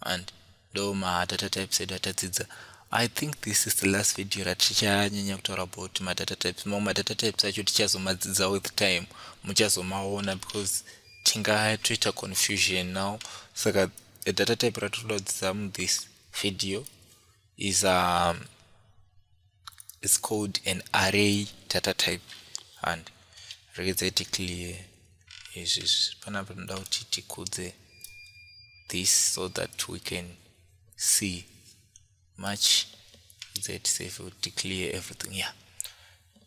and ndo madata types edu atadzidza i think this is the last video ratichanyanya kutaura about madata types mamwe madata types acho tichazomadzidza with time muchazomaona because tingatoita confusion now saka data type ratinoda kudzidza muthis video is um, it's called an array data type and rekedza iti clear izvi panapa tinoda kuti tikudze this so that we can see much that save will declare everything yeah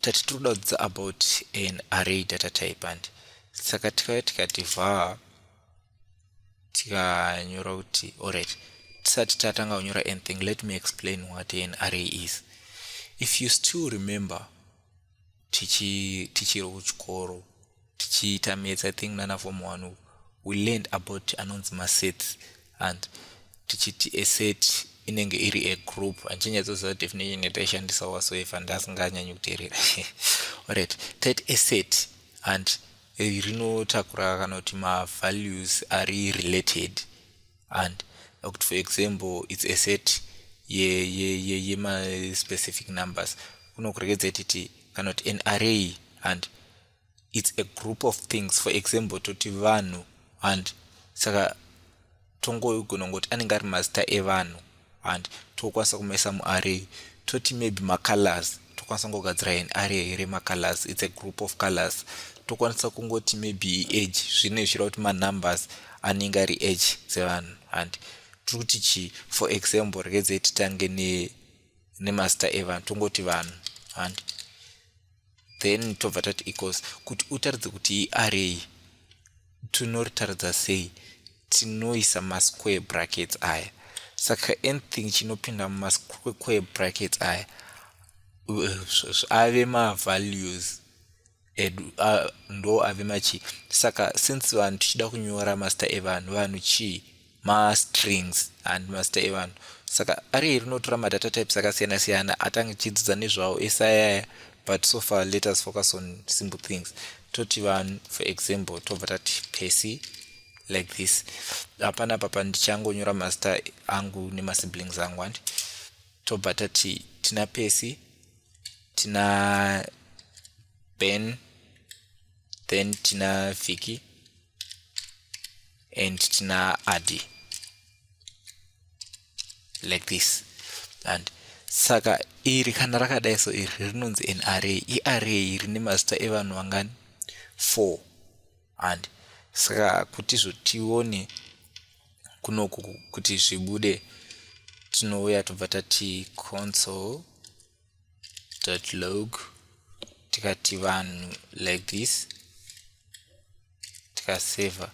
tati tiri kuda kudzidza about an array data type and saka tikauya tikati var tikanyora kuti alright tisati tatanga kunyora anything let me explain what an array is if you still remember tichiri kuchikoro tichiita maths i think nana form one uku we learned about anonzi masets and tichiti a set inenge iri a group andichanyatsoziva definition yataishandisa wasoefa ndasinganyanyi kuteerera orit tit a set and rinotakura kana kuti mavalues ari related and kuti for example its a set yemaspecific ye, ye, ye numbers kunokurekedza titi kana kuti an array and its a group of things for example toti vanhu and saka tongoigona ngokuti anenge ari mazita evanhu and tokwanisa kumaisa muarray toti maybe macolors tokwanisa kungogadzira an array here macolors its a group of colors tokwanisa kungoti maybe age zvine zvichira kuti manumbers anenge ari age dzevanhu and tiri kuti chii for example rekedzei titange nemazita evanhu tongoti vanhu and then tobva tati equals kuti utaridze kuti iarray tinoritaridza sei tinoisa masquare brackets aya saka anything chinopinda mumasquare brackets aya ave mavalues edu ndo ave machii saka since vanhu tichida kunyora masta evanhu vanhu chii mastrings and mazita evanhu saka ari iri rinotora madata types akasiyana siyana atange tichidzidza nezvawo ese ayaya but so far let us focus on simple things toti vanhu for example tobva tati pesi like this hapana papa ndichangonyora mazita angu nemasiblings angu andi tobva tati tina pesi tina ben then tina vhiki and tina adi like this and saka iri kana rakadai so iri rinonzi an array iarray rine mazita evanhu vangani four and saka kuti zvotione kunoku kuti zvibude tinouya tobva tati console dot log tikati vanhu like this tikaseva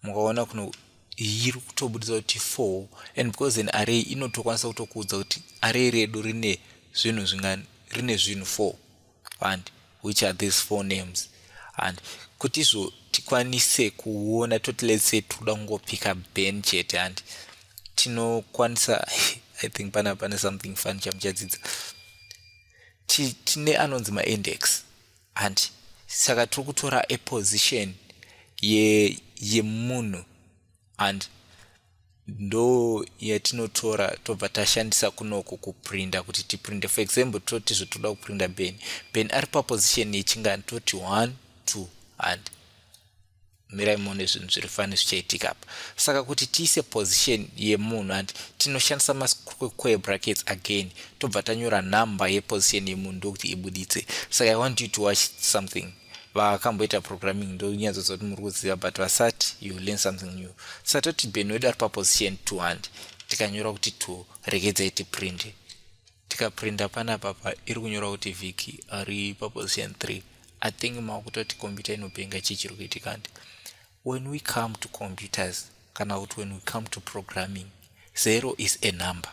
mukaona kuno iri kutobudisa kuti four and because an array inotokwanisa kutokuudza kuti array redu rine zvinhu zvingani rine zvinhu four fani which are these four names and kuti izvo tikwanise kuona toti let's say tikuda kungopika ben chete and tinokwanisa i think pana pane something fun chamuchadzidza tine anonzi maindex and saka tiri kutora eposition yemunhu ye and ndo yatinotora tobva tashandisa kunoku kuprinda kuti tiprinde for example toti zvotoda kuprinda ben ben ari paposition yechingani toti one two and mirai muone zvinhu zviri fani zvichaitika apa saka kuti tiise position yemunhu and tinoshandisa masquare brackets again tobva tanyora number yeposition yemunhu ndokuti ibuditse saka i want you to watch something vakamboita programming ndonyatsoziva kuti muri kuziva but vasati you learn something new satoti ben wedu ari paposition two and tikanyora kuti two regedzai tiprint tikaprinta panapa pa iri kunyora kuti vhiki ari paposition three i think makutoti computer inopenga chii chiri kuitika andi when we come to computers kana kuti when we come to programming zero is a number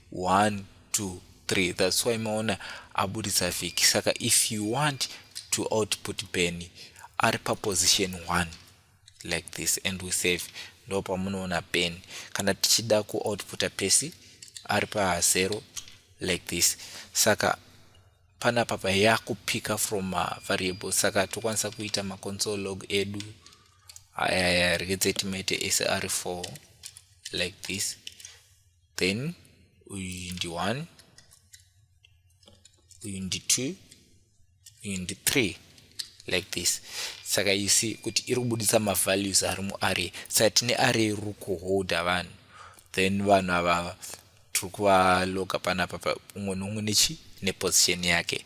1 2 3 that's why maona abuditsa vhiki saka if you want to output ben ari paposition 1 like this and we save ndo pamunoona ben kana tichida kuoutputa pesi ari pazero like this saka pana papa yakupika from mavariable saka tokwanisa kuita maconsole log edu ayaya rekedzai timaite sr4 like this then uyu ndi 1 uyu ndi 2 uyu ndi 3 like this saka you see kuti iri kubudisa mavalues ari muarray saka tine array riri kuholda vanhu then vanhu avava tiri kuvaloga panapa umwe neumwe nechi neposition yake